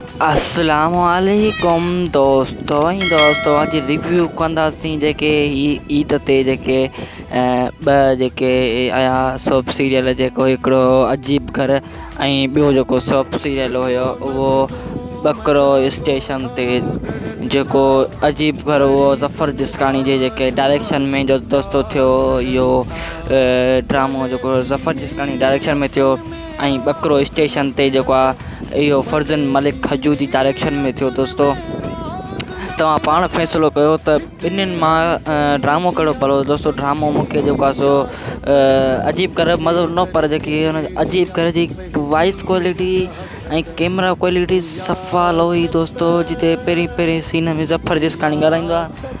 السلام عليڪم دوستو ۽ دوستو اڄ ريويو ڪنداسين جيڪي هي عيد تي جيڪي ٻه جيڪي آيا سوپ سيريل جيڪو هڪڙو عجيب گھر ۽ ٻيو جيڪو سوپ سيريل هيو اهو ٻڪرو اسٽيشن تي جيڪو عجيب گھر هو ظفر جسڪاڻي جي جيڪي ڊائريڪشن ۾ جو دوستو ٿيو اهو ڊرامو جيڪو ظفر جسڪاڻي ڊائريڪشن ۾ ٿيو ۽ ٻڪرو اسٽيشن تي جيڪو آ اهو فرزند ملڪ کجو جي ڊائريڪشن ۾ ٿيو دوستو توهان پاڻ فيصلو ڪيو ته ٻنهين مان ڊرامو ڪهڙو پلو دوستو ڊرامو مونکي جيڪو آ سو عجيب گھر مزو نه پر جيڪي هن عجيب گھر جي وائس ڪوالٽي ۽ ڪيمرا ڪوالٽي صفا لوهي دوستو جتي پهرين پهرين سين ۾ ظفر جسڪاڻي ڳالهائيندو آ